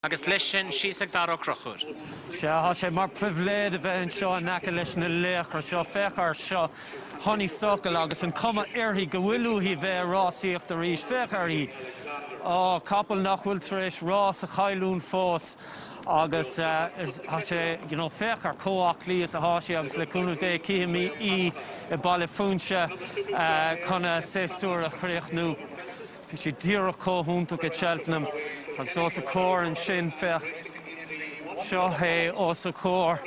Agus leis sin, síos ag Darach Ó Crochúir. Sea, thá sé mar phribhléid a bheith anseo in aice leis na laochra seo. Féach air seo, Honeysuckle agus an cuma uirthi go bhfuil uaithi a bheith ag rásaíocht arís. Féach air í. Á, capall nach bhfuil tar éis rás a chailliúint fós. Agus thá sé, you know, féach air chomh haclaí is athá sí agus le cúnamh Dé cífimid í i Baile Phúinse chun a séasúr a chríochnú. Bhí sé díreach comh hiontach i Cheltenham agus os a comhair ansin, féach, seo é os a comhair,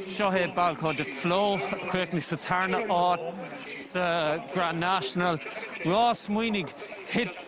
seo é Balko des Flos a chríochnaigh sa tarna áit sa Grand National. Rás, smaoinigh, thit.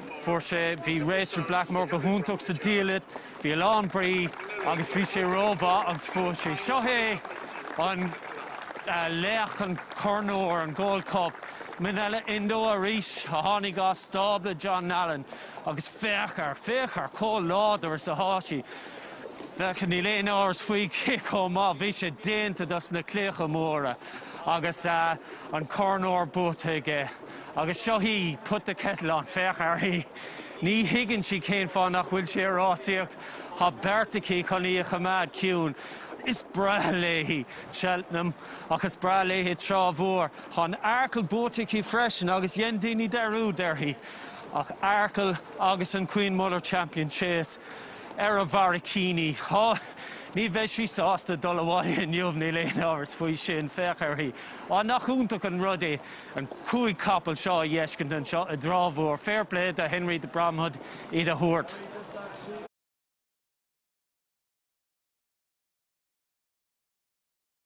Fuair sé, bhí Rachel Blackmore go hiontach sa diallait, bhí a lán brí agus bhí sé rómhaith agus fuair sé. Seo é an laoch, an Corn Óir, an Gold Cup. Minella Indo arís a tháinig as stábla John Nallen agus féach air, féach air chomh láidir is athá sí. Féach, níl aon amhras faoi cé chomh maith, bhí sé déanta dos na claíocha móra agus an Corn Óir buaite aige. Agus seo í, Put The Kettle On, féach uirthi. Ní thuigeann sí cén fáth nach bhfuil sí ag rásaíocht. Tá beart aici chun í a choimeád ciúin. Is breá léi Cheltenham ach is breá léi Trá Mhór. Tá an Arkle buaite aici freisin agus dhein daoine dearúd uirthi. Ach Arkle agus an Queen Mother Champion Chase ar a bharraicíní. Ní bheidh sí sásta dul abhaile inniu, níl aon amhras faoi sin, féach uirthi. Á, nach iontach an rud é an cúig capall seo a fheiscint anseo i dTrá Mhór. Fair play do Henry de Bromhead iad a thabhairt.